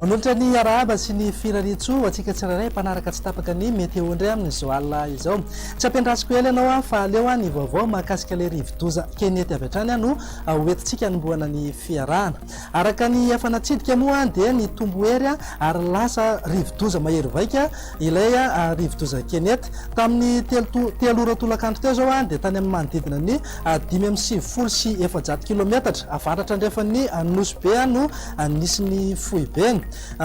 Manolotra ny arahaba sy ny firariantsoa ho antsika tsirairay mpanaraka tsy tapaka ny météo indray amin'izao alina izao. Tsy ampiandrasiko ela ianao aho fa aleo aho ny vaovao mahakasika ilay rivodoza Kenneth avy hatrany aho no hoentintsika hanombohana ny fiarahana. Araka ny efa natsidika moa dia nitombo hery ary lasa rivodoza mahery vaika ilay rivodoza Kenneth. Tamin'ny telo ora tolakandro teo izao dia tany amin'ny manodidina ny dimy amby sivifolo sy efajato kilometatra avaratra andrefan'ny Nosy Be no nisy ny foibeny.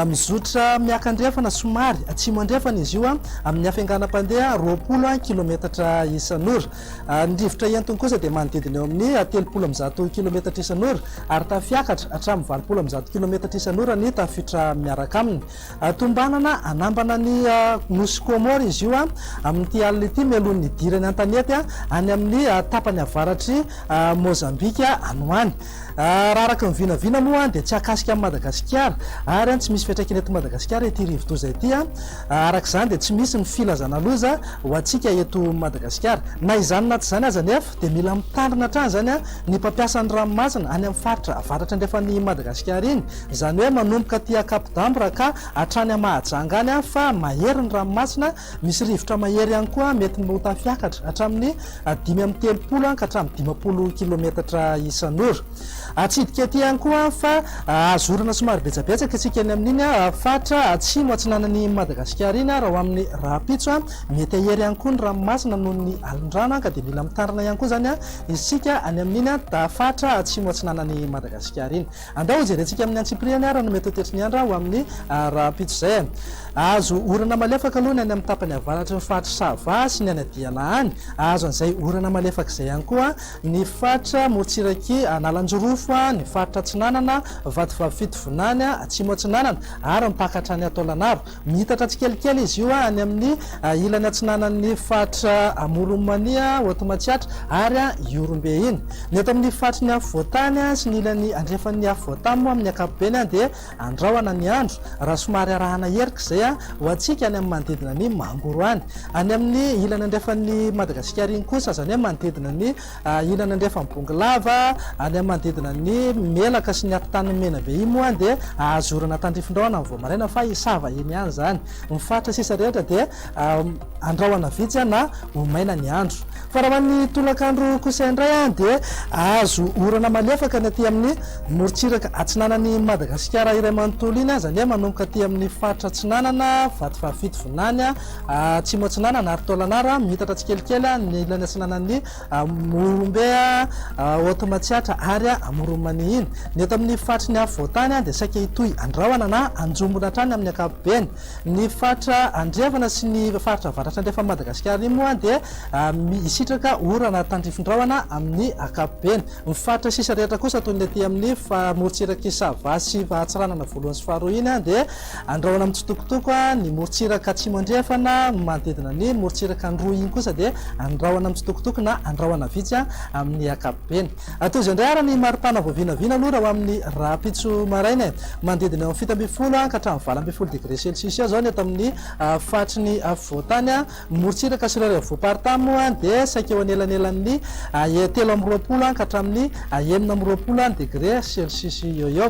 Mizotra miakandrefana somary atsimo andrefana izy io amin'ny hafainganam-pandeha roapolo kilometatra isan'ora. Ny rivotra entiny kosa dia manodidina eo amin'ny telopolo amby zato kilometatra isan'ora ary tafiakatra hatramin'ny valopolo amby zato kilometatra isan'ora ny tafiotra miaraka aminy. Tombanana hanambana ny nosy Kômôro izy io amin'ity alina ity mialoha ny hidirany an-tanety any amin'ny tapany avaratr'i Môzambika any ho any. Raha araka ny vinavina moa dia tsy akasika an'i Madagasikara ary tsy misy fiantraikany eto Madagasikara ity rivodoza ity. Araka izany dia tsy misy ny filazana loza ho antsika eto Madagasikara. Na izany na tsy izany aza anefa dia mila mitandrina hatrany izany ny mpampiasa ny ranomasina any amin'ny faritra avaratra andrefan'i Madagasikara iny. Izany hoe manomboka aty Ankapodamorakà hatrany Mahajanga any fa mahery ny ranomasina Misy rivotra mahery ihany koa mety ny ho tafiakatra hatramin'ny dimy amby telopolo ka hatramin'ny dimampolo kilometatra isan'ora. Atsidika ety ihany koa fa azo orana somary betsabetsaka isika eny amin'iny faritra atsimo atsinanan'i Madagasikara iny raha ho amin'ny rahampitso. Mety hahery ihany koa ny ranomasina noho ny alin-drano ka dia mila mitandrina ihany koa izany isika any amin'iny faritra atsimo atsinanan'i Madagasikara iny. Andao hojerentsika amin'ny antsipiriany ary no mety ho tetry ny andra ho amin'ny rahampitso izay. Ahazo orana malefaka aloha ny any amin'ny tapany avaratry ny faritry Sava sy ny any Adiana any. Ahazo an'izay orana malefaka izay ihany koa ny faritra morontsiraky Analanjirofo, ny faritra Atsinanana, Vatovavy Fitovinany, Atsimo Atsinanana ary mipaka hatrany Taolagnaro. Miitatra tsikelikely izy io any amin'ny ilany atsinanan'ny faritra Amoron'i Mania, Haute Matsiatra ary Ihorombe iny. Ny eto amin'ny faritry ny afovoantany sy ny ilany andrefan'ny afovoantany moa amin'ny ankapobeny dia andrahona ny andro raha somary arahana erika izay ho antsika any amin'ny manodidina ny Mangoro any. Any amin'ny ilany andrefan'i Madagasikara iny kosa, izany hoe manodidina ny Ilany andrefan'ny Bongolava, any amin'ny manodidina ny Melaka sy ny Afotanin'i Menabe iny moa dia ahazorana tandrifindraona amin'ny voamaraina fa hisava eny ihany izany. Ny faritra sisa rehetra dia andrahona vitsy na ho maina ny andro. Fa raha ho an'ny tolakandro kosa indray dia hahazo orana malefaka ny aty amin'ny morontsiraka atsinanan'i Madagasikara iray manontolo iny aza anie manomboka aty amin'ny faritra atsinanana, Vatovavy Fitovinany, Atsimo Atsinanana ary Tôlanara, miitatra tsikelikely ny ilany atsinanan'ny Mohombe, Haute Matsiatra ary Amoron'i Manihiny. Ny eto amin'ny faritry ny afovoan-tany dia saika hitohy an-drahona na an-jombona hatrany amin'ny ankapobeny. Ny faritra andrefana sy ny faritra avaratra andrefan'i Madagasikara iny moa dia hisitraka orana tandrifin-drahona amin'ny ankapobeny. Ny faritra sisa rehetra kosa toy ny aty amin'ny morontsirak'i Sava sy Antsiranana voalohany sy faharoa iny dia Andrahoina mitsitokotoko ny morontsiraka atsimo andrefana manodidina ny morontsiraka ny roa iny kosa dia andrahoina mitsitokotoko na andrahoina vitsy amin'ny ankapobeny. Atozo indray ary ny maripana vao vinavina aloha raha ho amin'ny rahampitso maraina e! Manodidina eo amin'ny fito ambin'ny folo ka hatramin'ny valo ambin'ny folo degré celsius eo zao ny eto amin'ny faritry ny afovoantany. Ny morontsiraka sy ireo revo voaparitaha moa dia saika eo anelanelan'ny telo amby roapolo ka hatramin'ny enina amby roapolo degré celsius eo eo.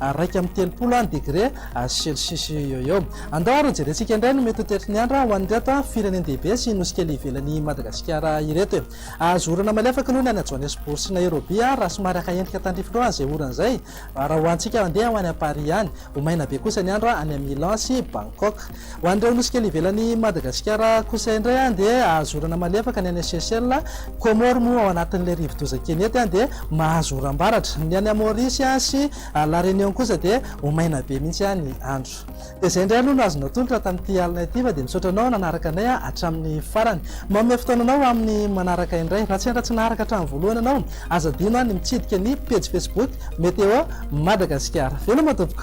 iraika amby telopolo degre celsius eo eo. Andao ary hojerentsika indray ny mety ho toetry ny andro ho an'ireto firenen-dehibe sy nosy kely ivelan'i Madagasikara ireto e. Ahazo orana malefaka aloha ny any Johannesburg sy Nairobi raha somary haka endrika tandrify loha izay orana izay raha ho antsika handeha ho any Paris any. Ho maina be kosa ny andro any Milan sy Bangkok. Ho an'ireo nosy kely ivelan'i Madagasikara kosa indray dia azo orana malefaka ny any Seychelles, Comores moa ao anatin'ilay rivodoza Kenette dia mahazo oram-baratra. Ny any Maurice sy La Réunion kosa dia ho maina be mihitsy ny andro. Dia izay indray aloha no azonao atolotra tamin'ity alina ity fa dia misaotra anao nanaraka anay hatramin'ny farany. Manome fotoana anao amin'ny manaraka indray. Raha sendra tsy naharaka hatramin'ny voalohany ianao, aza adino ny mitsidika ny pejy Facebook Météo Madagasikara. Veloma tompoko!